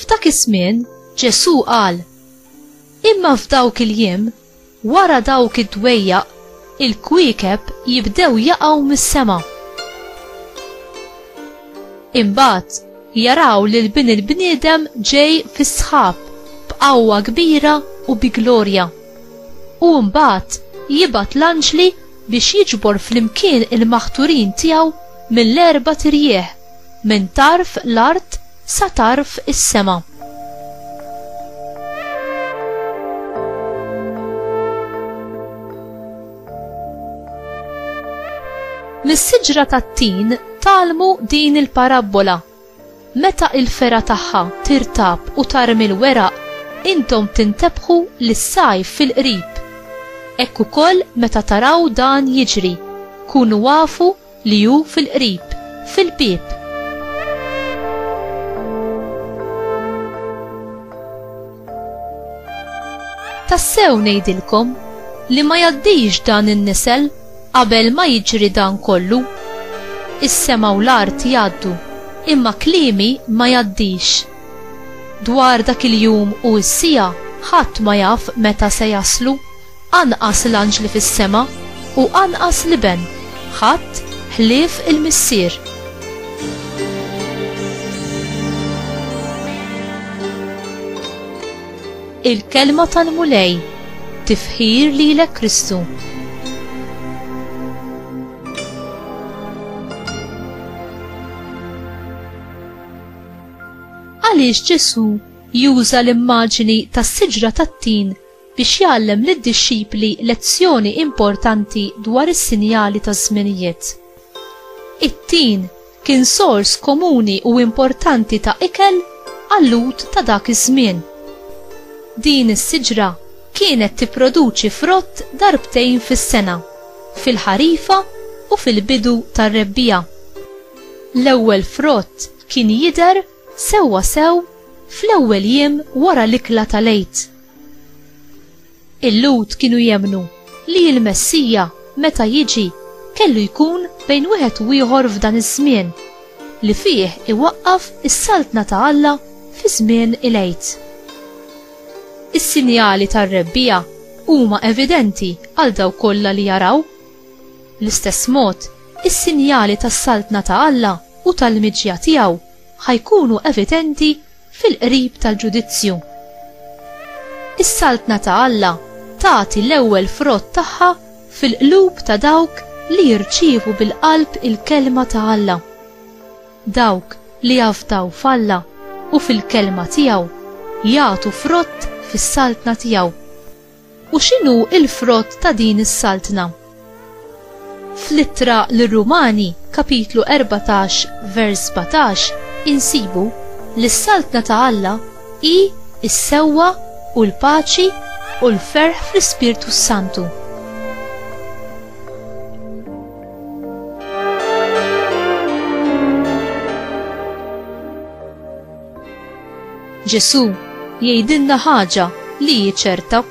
F'dak iż-żmien Ġesù qal, Imma f'dawk il-jiem, wara dawk id-dwejjaq, il-kwiekeb jibdew jaqgħu mis-sema. Imbagħad jaraw lil Bin il-bniedem ġej fis-sħab b'qawwa kbira u bi glorja. U mbagħad jibgħat l-anġli biex jiġbor flimkien il-maħturin tiegħu mill-erba' tirjieħ Minn tarf l-art sa tarf is-sema. Mis-siġra tat-tin talmu din il-parabbola. Meta il-fera tagħha tirtab u tarmi l-weraq, intom tintebħu li s-sajf fil-qrib. Hekk ukoll meta taraw dan jiġri, kunu afu li hu fil-qrib, fil-bieb. Tassew ngħidilkom li ma jaddix dan in-nisel qabel ma jiġri dan kollu. Is-sema u l-art jgħaddu, imma kliemi ma jaddix. Dwar dak il-jum u s-sija ħadd ma jaf meta se jaslu, Anqas l-anġli fis-sema, u anqas l-Iben, ħadd ħlief il-Missier. Il-Kelma tal-Mulej, tifħir lilek Kristu. Għaliex Ġesù juża l-immaġini tas-siġra tat-tin biex jgħallem lid-dixxipli lezzjoni importanti dwar is-sinjali taż-żminijiet. It-tin kien sors komuni u importanti ta' ikel għal-Lhud ta' dak iż-żmien. Din is-siġra kienet tipproduċi frott darbtejn fis-sena, fil-ħarifa u fil-bidu tar-rebbiegħa. L-ewwel frott kien jidher Sewwa sew fl-ewwel jiem wara l-ikla tal-Għid. Il-Lhud kienu jemmnu li l-Messija, meta jiġi, kellu jkun bejn wieħed u ieħor f'dan iż-żmien, li fih iwaqqaf is-Saltna ta' Alla fi żmien il-Għid. Is-sinjali tar-Rebbiegħa huma evidenti għal dawk kollha li jaraw. Bl-istess mod, Is-sinjali tas-Saltna ta' Alla u tal-miġja tiegħu ħa jkunu evidenti fil-qrib tal-ġudizzju. Is-Saltna ta' Alla tagħti l-ewwel frott tagħha fil-qlub ta' dawk li jirċievu bil-qalb il-kelma ta' Alla. Dawk li jafdaw f'Alla u fil-kelma tiegħu jagħtu frott fis-Saltna tiegħu. U x'inhu l-frott ta' din is-saltna? Fl-Ittra lir-Rumani, kapitlu 14, vers 17, insibu li s-saltna ta' Alla hi s-sewwa u l-paċi u l-ferħ fl-Ispirtu s-Santu. Ġesù jgħidilna ħaġa li hi ċerta,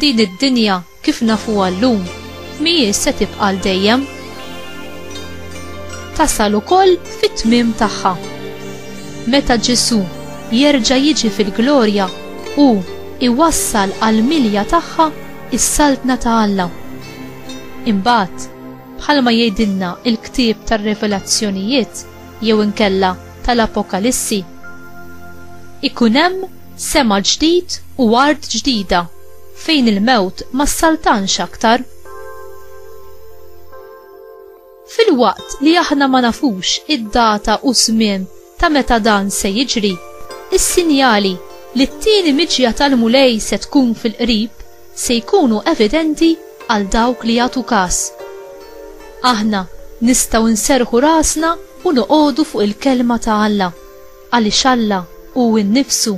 din id-dinja kif nafuha llum mhijiex se tibqa' għal dejjem. Tasal ukoll fit-tmiem tagħha. Meta Ġesù jerġa' jiġi fil-glorja hu iwassal għal milja tagħha is-saltna ta' Alla. Imbagħad, bħalma jgħidilna l-ktieb tar-Revelazzjonijiet jew inkella tal-Apokalissi. Ikun hemm sema ġdid u art ġdida fejn il-mewt ma ssaltanx aktar. Filwaqt li aħna ma nafux id-data u żmien ta' meta dan se jiġri, is-sinjali li t-tieni miġja tal-Mulej se tkun fil-qrib se jkunu evidenti għal dawk li jagħtu każ. Aħna nistgħu nserrħu rasna u noqogħdu fuq il-Kelma ta' Alla, għaliex Alla hu nnifsu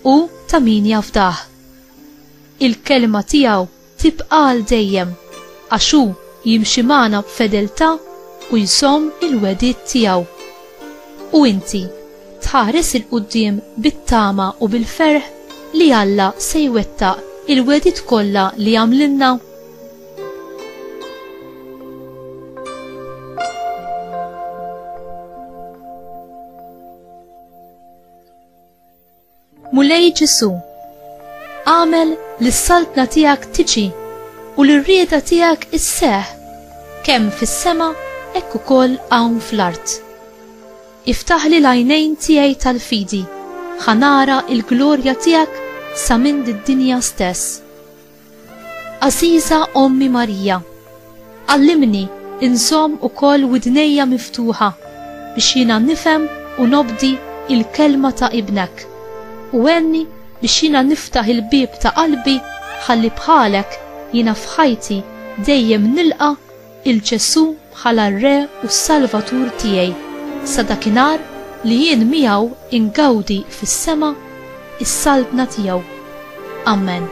u ta' min jafdah. Il-Kelma tiegħu tibqa' għal dejjem, għax hu jimxi magħna b'fedeltà u jżomm il-wegħdiet tiegħu. U inti, tħares 'il quddiem bit-tama u bil-ferħ li Alla se jwettaq il-wegħdiet kollha li għamlilna? Mulej Ġesu, għamel li s-saltna tijak tiġi u li r-rieda tijak isseħ kem fis-sema ekku kol għawn fl-art. Iftaħli l-għajnejn tijaj tal-fidi, ħanara il-glorja tijak sa minn d-dinja stess. Għażiża Ommi Marija, għallimni inżomm ukoll widnejja miftuħa biex jiena nifhem u nobdi l-kelma ta' Ibnek, u għenni biex jiena niftaħ il-bieb ta' qalbi ħalli bħalek jiena f'ħajti dejjem nilqa' 'il Ġesù bħala r-Re u s-Salvatur tiegħi sa dakinhar li jien miegħu ingawdi fis-sema s-Saltna tiegħu. Amen.